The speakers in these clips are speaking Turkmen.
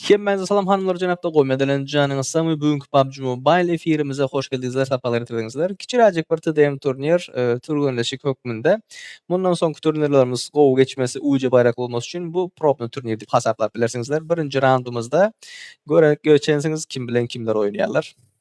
Hemmäňize salam hanymlar jenapda gowy mezelenip janyňyz sagmy bu günki PUBG Mobile efirimize hoş geldiňizler sapalar getirdiňizler kiçiräjik bir TDM turnir e, türgenleşik hökmünde mundan soňky turnirlerimiz gowy geçmesi uýja baýrak bolmasy üçin bu probny turnir diýip hasaplap bilersiňizler birinji raundumyzda görek göçensiňiz kim bilen kimler oýnaýarlar.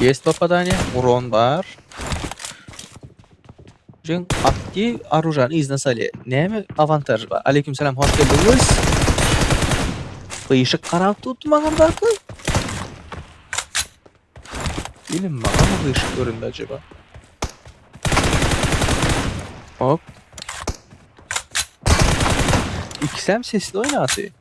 Ýest popadaniýa uran bar. Jüň atdy arujany yzyna salýa. Näme awantaj bar? Aleýkum salam, hoş geldiňiz. Gyşyk garap tutdy maňa barka. Ýene maňa mı gyşyk göründi acaba? Hop. İkisem sesli oýnaty.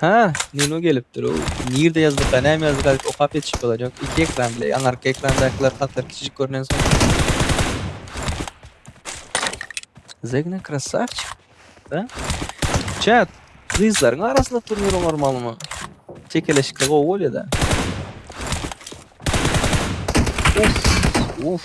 Ha, Nuno gelipdir-ow. Nirde ýazyka, näme ýazyka diýip okap ýetişip bolar. Ýok, iki ekran bile. Aňyrky ekrandakylar hatlar kiçijik görnensoň. Zegna krasawçik. Da. Çat, gyzlaryň arasynda turnir oňarmalymy? Çekeleşikli gowy bolýar-da. Uf, uf.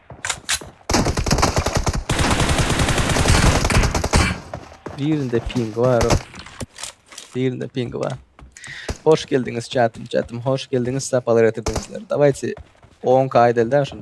Birinde ping bar. Birinde ping bar. Hoş geldiňiz çatym çatym. Hoş geldiňiz sapalar getirdiňizler. Dawaysi 10 k edelde şunu.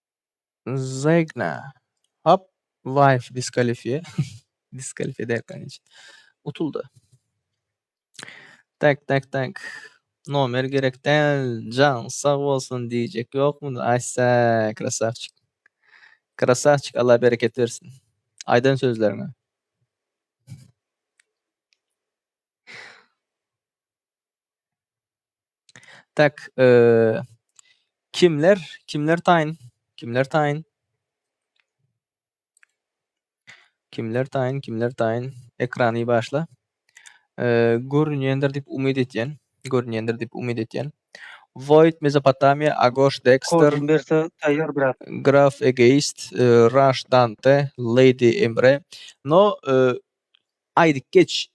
Zegna. Hop, wife diskalifie. Diskalifie derken hiç. Utuldy. Tak, tak, tak. Nomer gerek däl. Can sag bolsun diýjek ýokmy? Aýsa, krasawçik. Krasawçik, Allah bereket bersin. Aýdan sözleriňe. Tak, eee, kimler, kimler taýyn, kimler taýyn? Kimler taýyn, kimler taýyn? Ekrany başla. Eee, görünýändir diýip umyt edýän, görünýändir diýip umyt edýän. Void, Mezopotamiýa, Agoş, Dexter, Kodun berse taýýar graf. Graf, Egoist, eee, Raş, Dante, Lady, Emre. No, eee, aýdyp geç,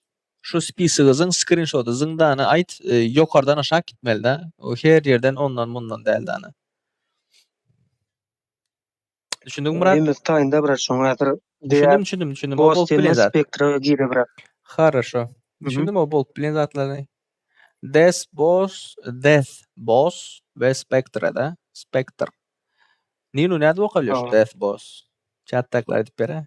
Şu spisygyzyň skrinşoty zyňdana aýt ýokardan aşak gitmelida o her ýerden ondan mundan däl dana. Düşündiňmi brat? Nemes taýynda brat şoň häzir Düşündim düşündim düşündim o bolup bilen zat. Spektra gire brat. Harasho. Düşündim o bolup bilen zatlary. Des boss death boss we spektra da spektr. Ninu nädip okalyş death boss? Çatdakylar aýdyp bere.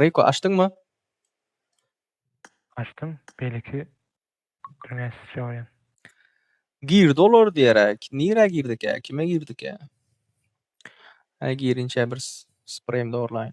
Riko açdyňmy? Açdym, beýleki dünýä syçýa bolýan. Girdi olar diýeräk. Nirä girdikä? Kime girdikä? Hä girinçä bir spreýim dogurlaýyn.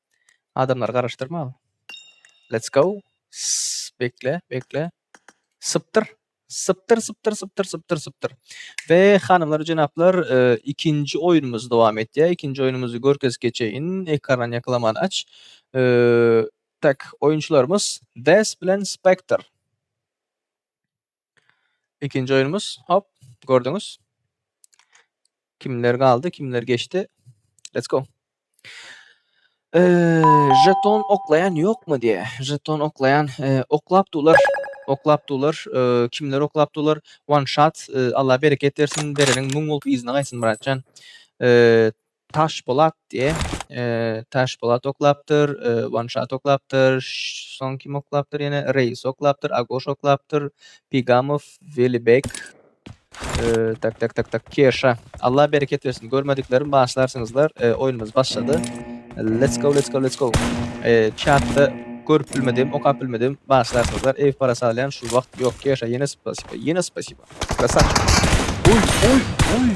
Adamlary garaşdyrma. Let's go. Sss, Bekle, bekle. Sypdyr. Sypdyr, sypdyr, sypdyr, sypdyr, sypdyr. We hanymlar, jenaplar, e, ikinji oýnumyz dowam etýär. Ikinji oýnumyzy görkezip geçeýin. Ekrandan ýakylaman aç. E, tak, oýunçylarymyz Des bilen Spectre. Ikinji oýnumyz. Hop, gördüňiz. Kimler galdy, kimler geçdi. Let's go. Eee, jeton oklaýan ýokmy diýe. Jeton oklaýan, eee, oklap dular. Oklap dular. Eee, kimler oklap dular? One shot. Eee, Allah bereket bersin. Bereniň müň bolup yzyna gaýtsyn, Myratjan. Eee, Taşpolat diýe. Taşpolat oklapdyr, Wanşat oklapdyr, soň kim oklapdyr ýene? Reis oklapdyr, Agoş oklapdyr, Pigamow, Welibek. Tak tak tak tak Keşa. Allah bereket bersin. Görmediklerim başlarsyňyzlar. Oýnumyz başlady. Let's go, let's go, let's go. Çatda görüp bilmedim, okap bilmedim. Başlarsyňyzlar. Ew para salýan şu wagt ýok. Keşa ýene spasiba, ýene spasiba. Krasavçik. Oý, oý, oý.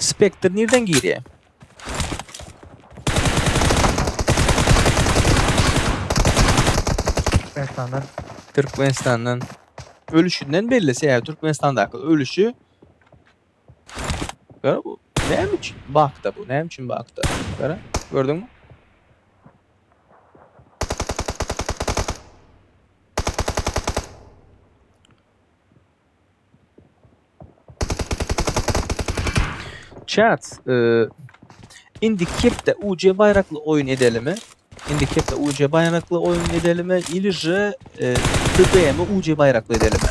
Spektr nirden girýär? Türkmenistandan. Türkmenistandan. Ölüşünden belli sebäbi Türkmenistandaky ölüşi. Gara bu näme üçin bakda bu? Näme üçin bakda? Gara gördüňmi? Chat, e, indi kepde UC baýrakly oýun edelimi? Indi kepde UC baýrakly oýun edelimi? Ili je, e, TDM UC baýrakly edelimi?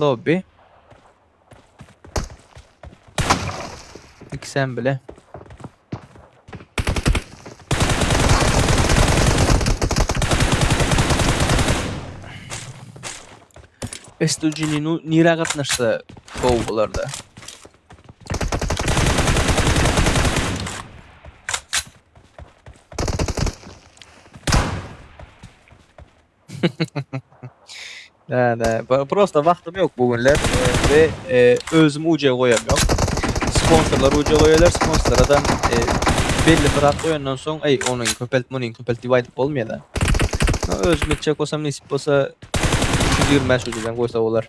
Lobby. İki sen bile. Estujini nira gatnaşsa gol bularda. Nä, nä, pro- prosta wagtym ýok bu günler e, we e, özüm uce goýam ýok. Sponsorlar uce goýarlar, sponsorlardan e, belli bir at goýandan soň, eý, onuň köpelt, munuň köpelt diýip aýdyp bolmaýar-da. No, özüm etjek bolsam, nesip bolsa 325 uceden goýsa bolar.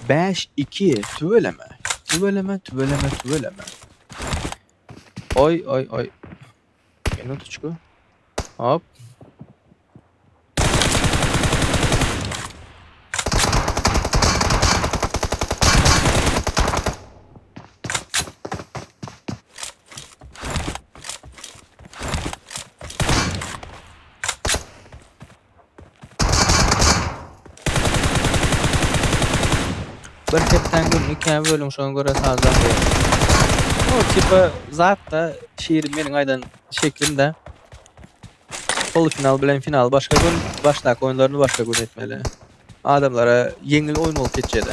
Bäş iki tüweleme. Tüweleme, tüweleme, tüweleme. Oý, oý, oý. Minutçku. Hop. Bir sepden gün ikä bölüň şoňa göre sazdan ber. O tipa zat da şiir meniň aýdan şeklim de. Polufinal bilen final başga gün, başdaky oýunlaryny başga gün etmeli. Adamlara ýeňil oýun bolup geçýär-de.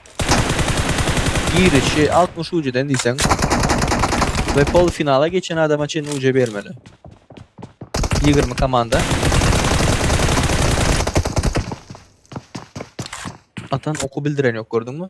Girişi altmyş ujeden diýseň we pol-finala geçen adama çenli uje bermeli. Ýigrimi komanda. Atan oky bildiren ýok gördüňmi?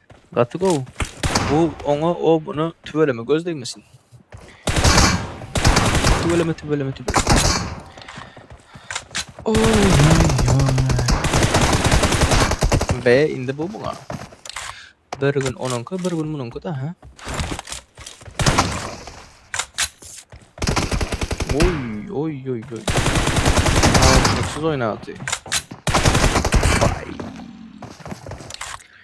Gaty gowy. Bu oňa o buna tüweleme göz degmesin. Tüweleme tüweleme tüweleme. Oy oy oy. Be indi bu muňa. Bir gün onunku bir gün bununku da ha. Oy oy oy oy. Aa, Mutsuz oynadı. Vay.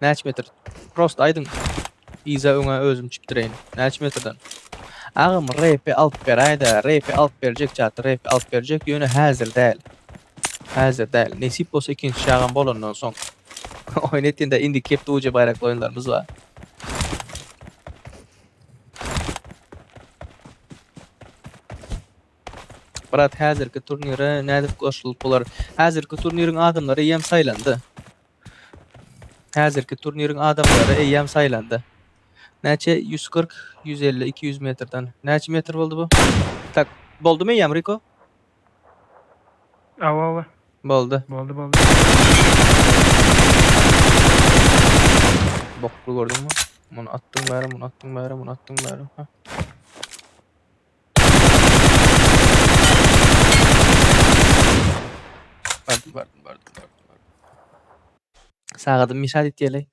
Näç metr? Prosta aýdyň yza öňe özüm çipdireýin näç metrden. Agam repi alyp beräýdä repi alyp berjek çaty repi alyp berjek ýöne häzir däl häzir däl nesip bolsa ikinji çagam bolandan soň oýun etginde indi kep duje baýrakly oýunlarymyz bar. Brat häzirki turnire nädip goşulyp bolar? Häzirki turniriň adamlary ýem saýlandy. Häzirki turniriň adamlary eýýäm saýlandy. Näçe ýüz kyrk, ýüz elli, iki ýüz metrden. Näçe metr boldy bu? Tak, boldumy eýýäm Riko? Awa, awa. Boldy. Boldy, boldy. Bokly gördüňmi? Muny atdyň bäri, muny atdyň bäri, muny atdyň bäri. Hä. Bardym, bardym, bardym, bardym, bardym. Sagadymy müşahat etýäli.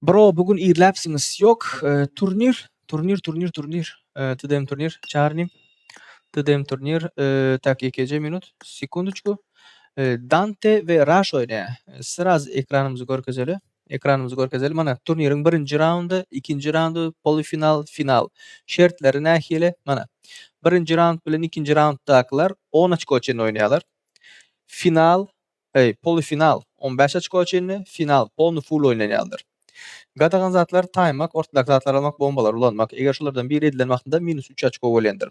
Bro, bu gün irläpsiňiz. Ýok, e, turnir, turnir, turnir, turnir. E, TDM turnir, çarnym. TDM turnir, e, tak, ýekeje minut, sekundoçku. E, Dante we Rush oýnaýar. E, Sraz ekranymyzy görkezeli. Ekranymyzy görkezelim, mana, turniriň birinji raundy, ikinji raundy, polifinal, final. Şertleri nähili? Mana, birinji raund bilen ikinji raunddakylar on oçko çenli oýnaýarlar. Final, eý, polifinal on bäş oçko çenli, final polny full oýnanýandyr. Gadagan zatlar taýmak, ortadaky zatlary almak, bombalary ulanmak. Eger şolardan biri edilen wagtynda minus üç oçko bolýandyr.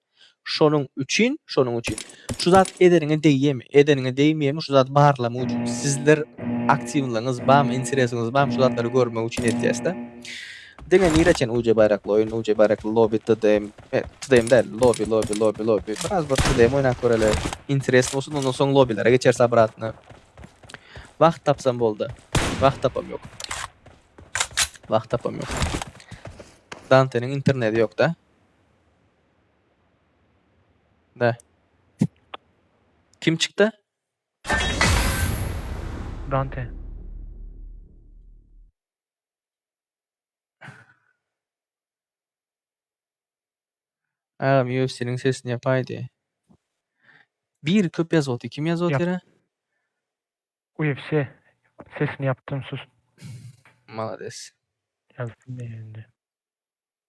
Şonuň üçin, şonuň üçin şu zat edeniňe degýärmi, edeniňe degmeýärmi şu zady barlamak üçin sizler aktiwlygyňyz barmy, interesiňiz barmy şu zatlary görmek üçin edýäsda. Diňe nirä çen uje baýrakly oýun, uje baýrakly lobi, tdm, tdm däl, lobi, lobi, lobi, lobi, biraz bir tdm oýnap göreli, interes bolsun, ondan soň lobilere geçeris obratno. Wagt tapsam bolda. Wagt tapam ýok. Wagt tapam ýok. Danteniň interneti ýokda. Näh? Kim çykdy? Dante. Agam UFC'niň sesini ýapaýdy. Bir köp ýazypdy. Kim ýazyp Ýap. otyra? UFC. Sesini ýapdym sus. Malades. Ýazsyn indi.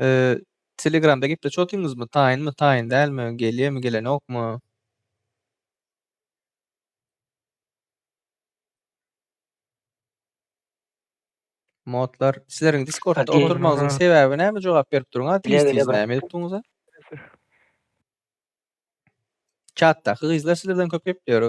Ee, Telegramda gepleşip otyňyzmy? Taýynmy, taýyn dälmi? Gelýärmi, gelenokmy? Modlar, sizleriň Discordda Okey. oturmagyňyzyň sebäbi näme? Jogap berip duruň, ha, Gele, gele, diýseňiz, bir- näme edip durňyz-a? Çatdaky gyzlar sizlerden köp gepleýär.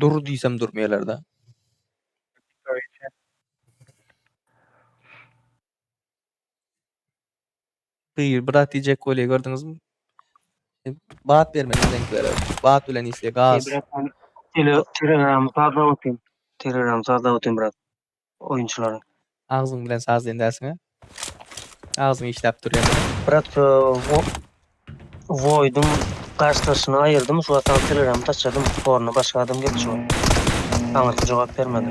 Dur diýsem durmaýalar-da. Gyr bir zat diýjek bolýa gördüňizmi? Bat bermeli bizdenkilere. Bat bilen isle gaz. Brat, Telegram sazlap otyryn. Telegram sazlap otyryn brat. oýunçylaryň. Agzyň bilen saz diýen dälsiňä. Agzyň işläp dur ýene. Brat e, wo- Void'un garşydaşyny aýyrdym, şu wagtdan Telegram'y taçadym. Ornuna başga adam geldi şu wagt. Aňyrsy jogap bermedi.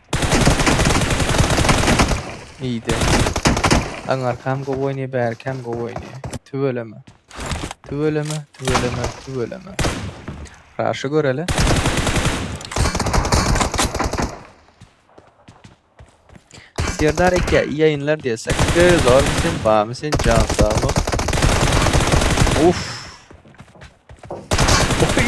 Ýe-de. Aňarkam gowy oýnaýar, bärikam gowy oýnaýar. Tüweleme. Tüweleme, tüweleme, tüweleme. Raşy göreli. Serdar eke iyi yayınlar diýsek. Serdar sen bamy sen jan sag bol. Uf. Oy.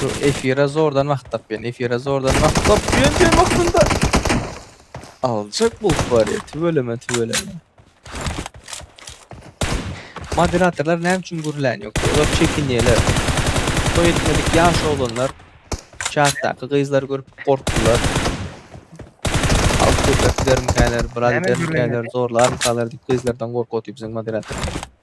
Şu efire zordan wagt tapýan. Efire zordan wagt tapýan diýen wagtynda aljak bul bar ya. Tüweleme, tüweleme. Moderatorlar näme üçin gürlän ýok? Olar çekinýärler. Toý etmedik ýaş oglanlar çatdaky gyzlar görüp gorkdular. Halk köpek dermkäler, biraz dermkäler, zorlarmykalar diýip gyzlardan gorkup otyr biziň moderatorlar.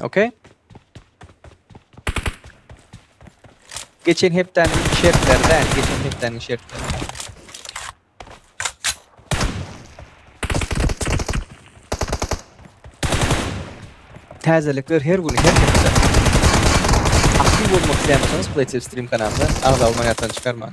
Ok. Geçen hepdäniň şertleri däl, geçen hepdäniň şertleri. Täzelikler her gün, her hepde. Aktiv bolmak isleýänsiňiz, Playtel Stream kanalyna agza bolmaň ýatdan çykarmaň.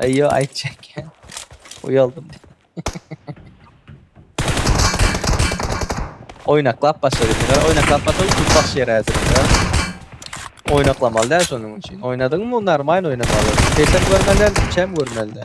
Aýo aýtjaýkän uýaldym. Oýnaklap başladyk. Gara oýnaklap başladyk. Tut baş ýer häzir. Oýnaklamaly däl şonuň üçin. Oýnadyňmy normal oýnamaly. Sesem görmeli, içem görmeli.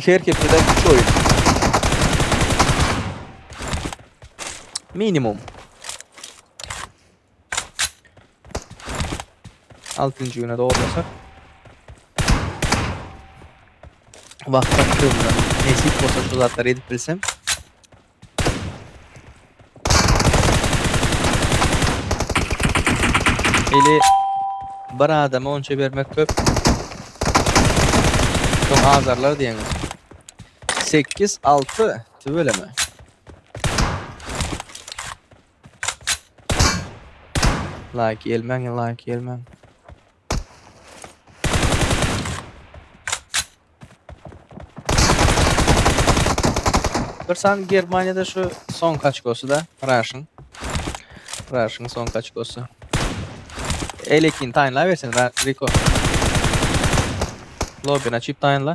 Her hepdede üç oýun. Minimum. Altynjy güne dogurlasak. Vakit aktivimden nesip olsa şu zatları edip bilsem. Eli bir adama onça bermek köp. Soň azarlar diýeňiz. 8 6 tüweleme. Like gelmäň, like gelmäň. Bir sany Germaniýada şu soňky açkosy-da Raşyň. Raşyň soňky açkosy. Elekin taýynla bersin Ra- Riko. Lobin açyp taýynla.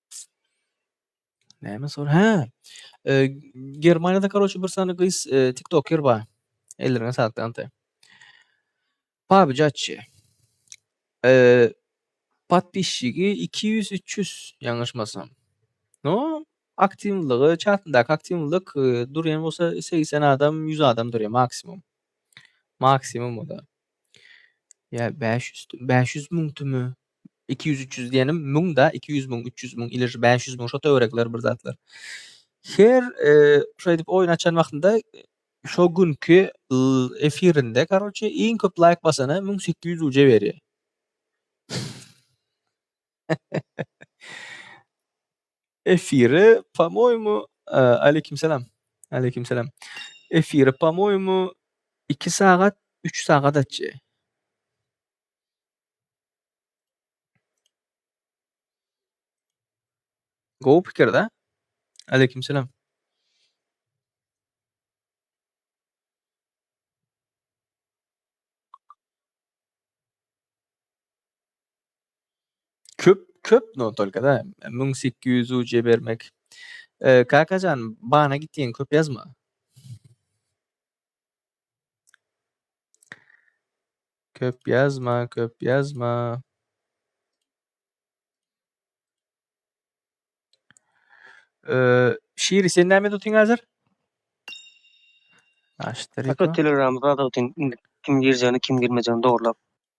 Näme sor? Hä. Eee, Germaniýada, karoçe, bir sany gyz, eee, tiktoker bar. Ellerine saglyk, Dante. Pabyj açy. Eee, podpisçigi iki ýüz, üç ýüz, ýalňyşmasam. No, aktiwlygy, çatyndaky aktiwlyk, eee, durýan bolsa segsen adam, ýüz adam durýar maksimum. Maksimum o-da. Ýa bäş ýüz tü bäş ýüz müň tümü? Iki ýüz, üç ýüz diýenim müň-da, iki ýüz müň, üç ýüz müň, ile şu bäş ýüz müň, şo töwerekler bir zatlar. Her, eee, şeýdip oýun açan wagtynda şo günki l- efirinde, karoçe, iň köp laýk basana müň sekiz ýüz ruje berýär. Efire, po-moýemu, e, Aleýkim salam. Aleýkim salam. Efire, po-moýemu, 2 sagat, 3 sagat açy. Gowy pikir-de. Aleýkim salam. Köp köp no tolka da müň sekiz ýüz uce bermek. E, Kakajan bana gitýän köp ýazma. Köp ýazma, köp ýazma. E, Şiri sen näme tutyň hazır? Aşdyryk. Hatta Telegramda da otyň indi kim girjegini, kim girmejegini dogrulap.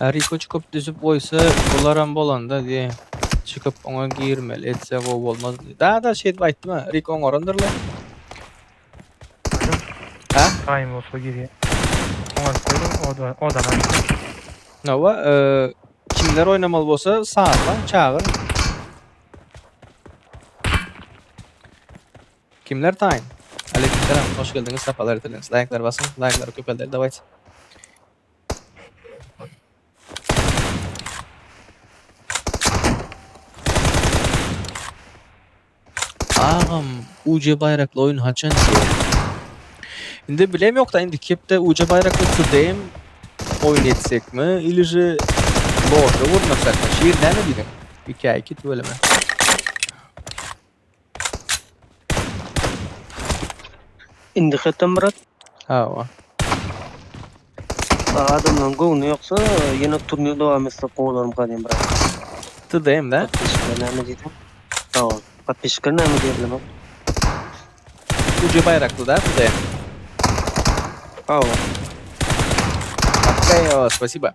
Riko çykyp düzüp goýsa bularam bolanda diye çykyp oňa girmeli etse gowy bolmaz. Da da şeýdip aýtdym ha. Riko oňarandyr lan. Ha? Taýym bolsa girýär. Oňa koýdum oda odana. Nawa, eee, kimler oýnamaly bolsa salla, çagyr. Kimler taýyn? Aleýkum salam, hoş geldiňiz, sapalar getirdiňiz. Laýklar basyň, laýklary köpelder dawaýt. Agam, UC baýrakly oýun haçan düşer? Indi bilem ýokda indi kepde UC baýrakly türdeýim oýun etsekmi, ilije lorda gurnasak, şir näme diýdiň? Ikä iki tüweleme. Indi hatam Murat. Hawa. Adamlaryň göwni ýoksa ýene turnir dowam etse gowalarym gadymy Murat. Tüdeýim de. Patişler näme diýdi? Hawa. Patişler näme diýdi Murat? Ucu bayraklı da tüdeýim. Hawa. Okey, spasiba.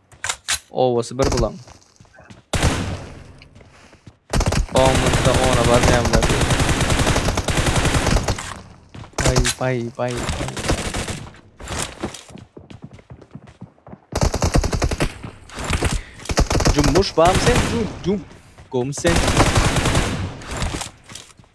Owasy bir bulaň. Onlukda ona barmaýanlar diýip. Bay bay bay bay. Cummuş bam sen cum cum. Gum sen.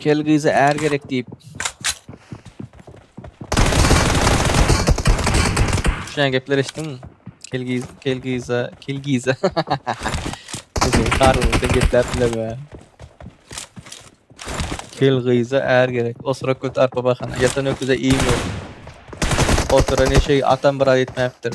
Kel gyza är gerek diýip. Şuňa gepler eşitdiňmi? Kel gyz, kel gyza, kel gyza. Bizim karnımızda gepler bileme. Kel gyza är gerek. O sıra kötü arpa bakana. Yatan öküze iyi mi? O sıra ne şey atam biraz etmeyiptir.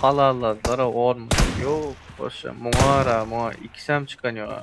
Halalladylary on manat yok bolsa muňara muňa ikisem çykan yok a.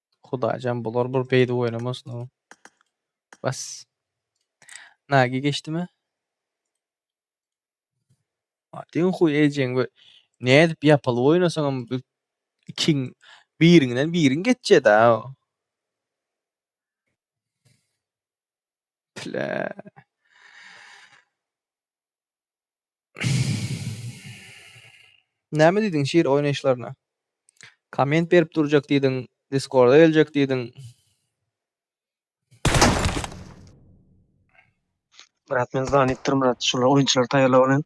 Hudaýjan bular bir beýdip oýnamasyn o. Bas. Nagi geçdimi? Diň huý ejeň we nädip ýapylyp oýnasaň hem bu ikiň biriňden biriň geçjeda. Pile. Näme diýdiň şir oýnaýyşlaryna? Komment berip durjak diýdiň, Diskorda geljek diýdiň. Brat men zanypdyr Murat şular oýunçylary taýýarlap alýan.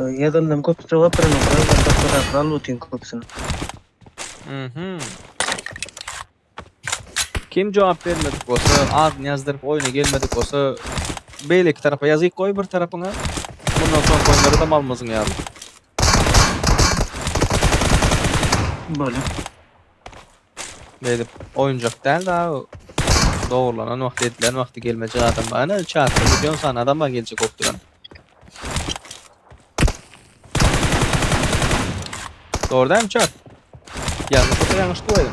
Ýazandan köp jogap beren okara gatlak gatlak al otyň köpsini. Mhm. Kim jogap bermedik bolsa, adyny ýazdyryp oýna gelmedik bolsa, beýleki tarapa ýazyk goý bir tarapyňa. Mundan soňky oýunlara da malmyzyň ýaly. Bolýar. Beýdip oýunjak däl da dogurlanan wagty edilen wagty gelmejek adam bar. Ana çatda milýon sany adam bar geljek bolup duran. Doğru değil mi çat? Yanlış olsa yanlış dua edin.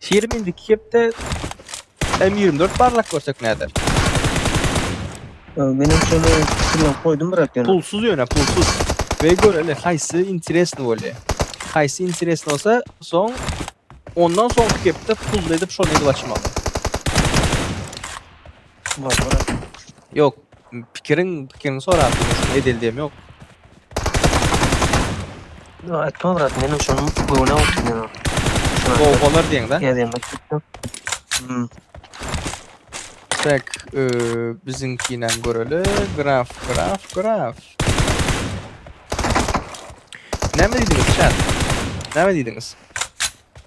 Şirim indiki kepde M ýigrimi dört barlak görsek näder. Menem şony pikirlenip goýdum brat ýöne. Pulsuz ýöne pulsuz. Ve göreli haýsy interesny bolýa. Haýsy interesny bolsa soň ondan soňky kepde pully edip şony edip açmaly. Yok. Pikirin, pikirin sorap durmuşum. Edil diyem yok. Ya etme bırak benim şunun göğüne olsun ya. Gol bolar diyen de. Geldim bak. Hmm. Tak, e, bizimkine göreli. Graf, graf, graf. Ne mi dediniz chat? Ne mi dediniz?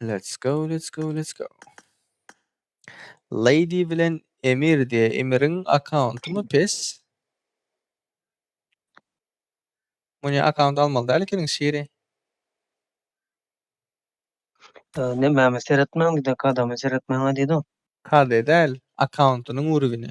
Let's go, let's go, let's go. Lady bilen Emir diýe. Emiriň akkauntymy pes? Muny akkaunt almaly däl ekeniň şiri. Ne mäme seretmäň diýdi, kadamy seretmäň diýdi. Kade däl, akkauntynyň urugini.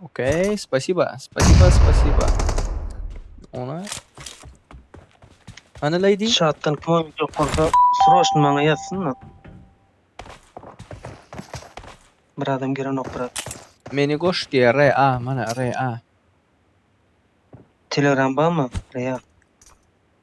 Okey, spasiba, spasiba, spasiba. Ona. Ana lady. Şatdan kim oýunjak bolsa, sroşny maňa ýazsyn-da. Bir adam girenok, brat. Meni goş diye RA mana RA. Telegram barmy? Real.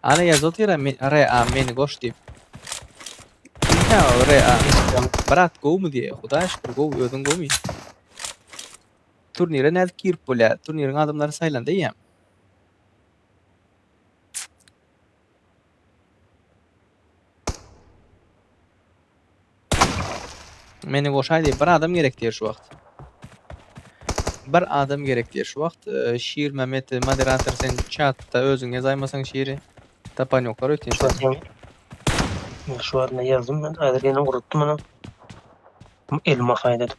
Ana ýaz otyra men re a meni goş diýip. Inha re a brat gowmy diýe hudaýa şükür gowy özüň gowmy. Turnire nädip girip bolýa turniriň adamlary saýlanda eýýäm. Meni goşaý diýip, bir adam gerek diýer şu wagt. Bir adam gerek diýer şu wagt. E, Şir Mehmet e, moderator sen çatda özüň ýazaýmasaň şiri tapan ýoklar öýtýän Şu seni. wagtdan şu wagtdan ýazdym men. Häzir ýene urutdy muny. Elma haýdadyp.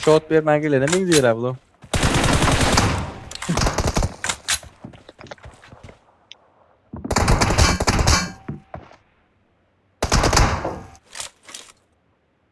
Shot bermän gelene meňzeýär abla.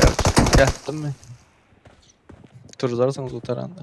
Gerçi ýatdymy? Turdarsyňyz gutaranda.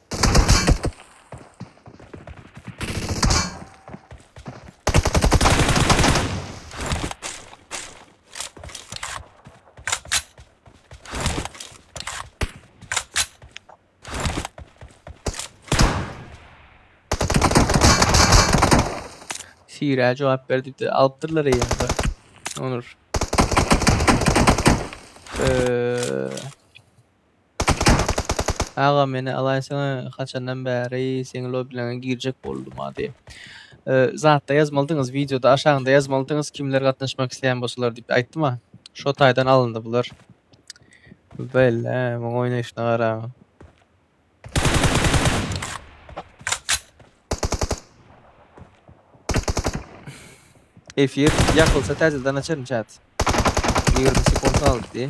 Sira cevap ver diýip alypdyrlar eýýämde. Onur. Ee, Agam meni alaýsaňa haçandan bäri seň lobbylaňa girjek bolduma diýip. Zatda ýazmalydyňyz wideoda aşaňda ýazmalydyňyz kimler gatnaşmak isleýän bolsalar diýip aýtdyma. Şo taýdan alyndy bular. Belle muň oýnaýşyna garaň. Efir ýakylsa täzeden açaryn chat. Ýigrimi sekund galdy diýi.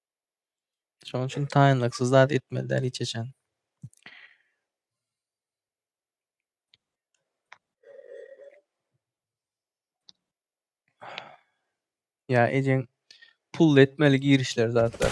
Şonuň üçin taýynlyksyz zat etmeli däl hiç haçan. Ya ejeň pul etmeli girişler zatlar.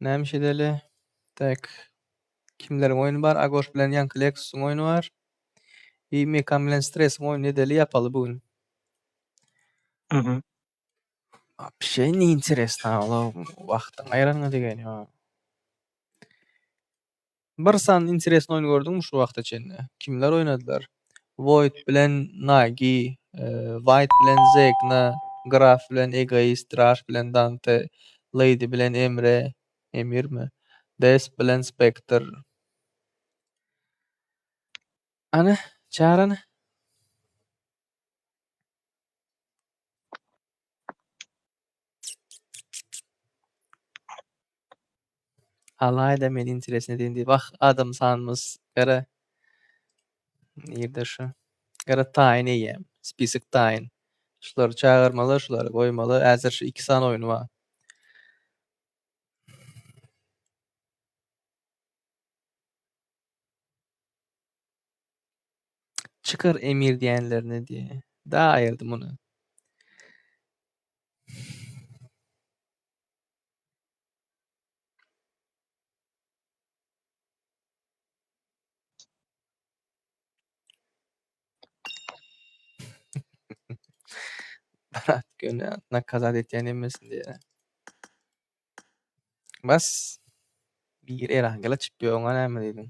Näme iş edeli? Tak. Kimleriň oýny bar? Agoş bilen ýaňky Lexusyň oýny bar. I Mekan bilen Stresiň oýny edeli ýapaly bu gün. Mhm. Wapşe neýinteresna olar wagtyň aýranyňa degeni ýok. Bir sany interesn oýun gördüňmi şu wagta çenli? Kimler oýnadylar? Void bilen Nagi, Wait bilen Zegna, Graf bilen Egoist, Raş bilen Dante, Lady bilen Emre, Emirmi? Desp bilen Spektr. Hany, çagyr hany. Alaýda men interesne diýen diýip wah adam sanmys gara nirde şu gara taýyn eýýäm spisok taýyn şulary çagyrmaly şulary goýmaly häzir şu iki sany oýny bar. Çykar emir diýenlerini diýýä. Da aýyrdy muny. Brat göni nakazat etýän emmesin diýýä. Bas. Bir erangela çykdy oňa näme diýdiň?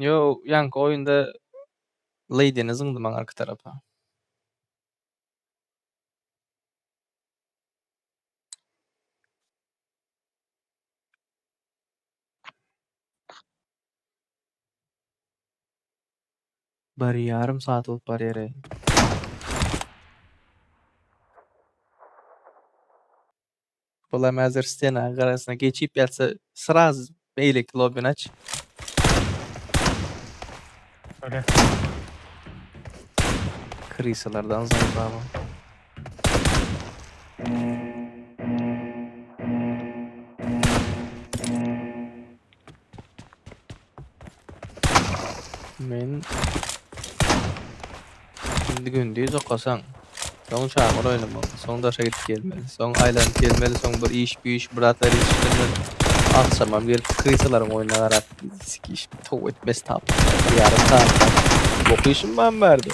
Yo, ýanky oýunda Leýdini zyňdy maňa arka tarapa. Bir ýarym saat bolup barýar eý. Olam häzir stena garasyna geçip ýatsa sraz beýleki lobbini aç. Öle. Krisalardan zandama. Men indi gündüz okasaň, soň çagyr oýnamaly, soň daşa gidip gelmeli, soň aýlanyp gelmeli, soň bir iş, bir iş, bir zatlar işlemeli. Agşamam gelip krisalaryň oýnuna garap, sik iş, tow etmesi tapyp, ýarym sagat. Okuýşym bam bardy.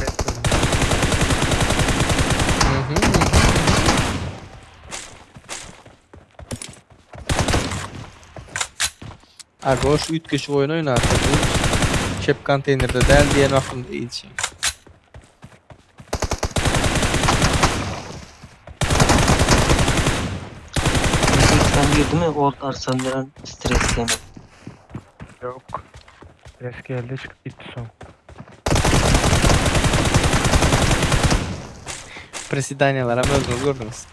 Bek gözüne. Agoş üýtgeşik oýun oýnarka bu çep konteýnerde däl diýen wagtymda ilçi. Sesden girdimi ort arçan bilen stres deme. Ýok. Stres geldi çykyp gitdi soň. Prisedaniýalaram özüňiz gördüňiz.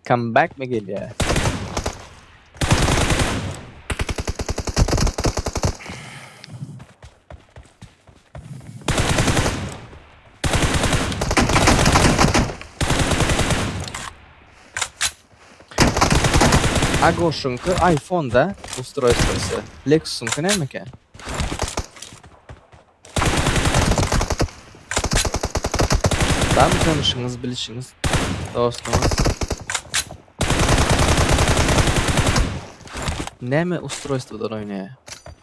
Come back mi gelýär? A goşuňky iPhone-da ustroýstwosy. Lexus-yňky näme eken? Barmy tanyşyňyz, bilşiňiz, dostuňyz? Näme ustroýstwodan oýnaýar?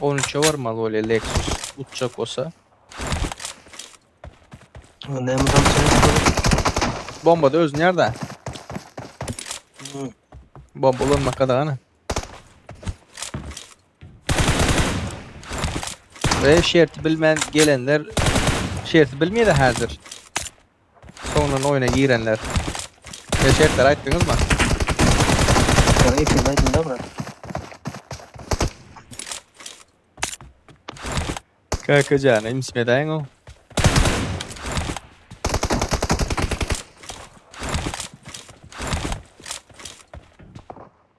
On üçe barmaly bolýar Lexus uçjak bolsa. O ne mi Bomba da özün yerde. Bomba ulanmak kadağana. Ve şerti bilmän gelenler şerti bilmeydi hazır. Soňundan oýuna girenler. Size şertleri aýtdyňyzmy? Ýok, ilkinji aýdym da bura. Kaka jana imsip edäýiň o.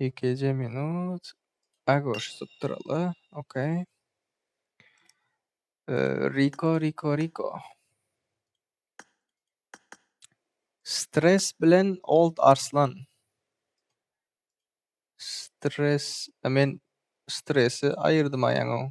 Ýekeje minut. Agoş sypdyraly. Okey. Riko, Riko, Riko. Stres bilen Old Arslan. Stres, men stresi aýyrdym aýaňyň.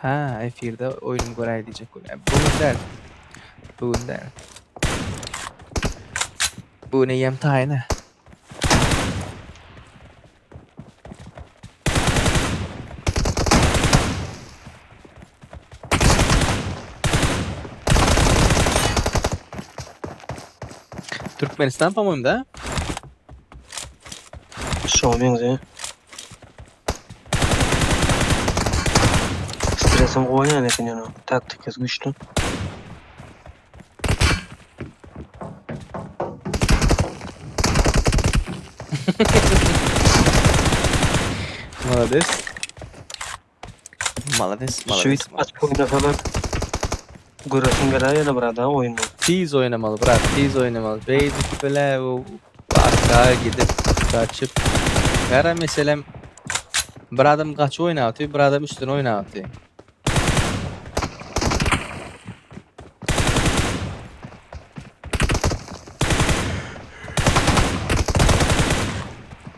Ha, efirde oýnumy göräý diýjek gün. E, bu gün däl. Bu gün däl. Bu gün eýýäm taýyna. Türkmenistan, po-moým, da? Şoňa meňzeýär. Stresim gowy oýnaýan eken ýöne taktikasy güýçli. Malades. Malades malades. Şüýtüp açyp oýnasalar göresiň geler ýene burada oýny. Tiz oýnamaly brat tiz oýnamaly beýdip bile arka gidip gaçyp gara meselem bir adam gaçyp oýnapdy bir adam üstüne oýnapdy.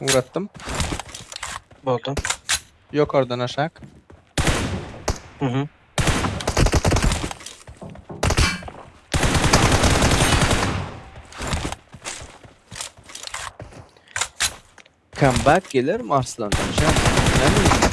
Ugratdym. Boldy. Ýokardan aşak. Mhm. Comeback geler mi Arslan? Şa, näme diýýär?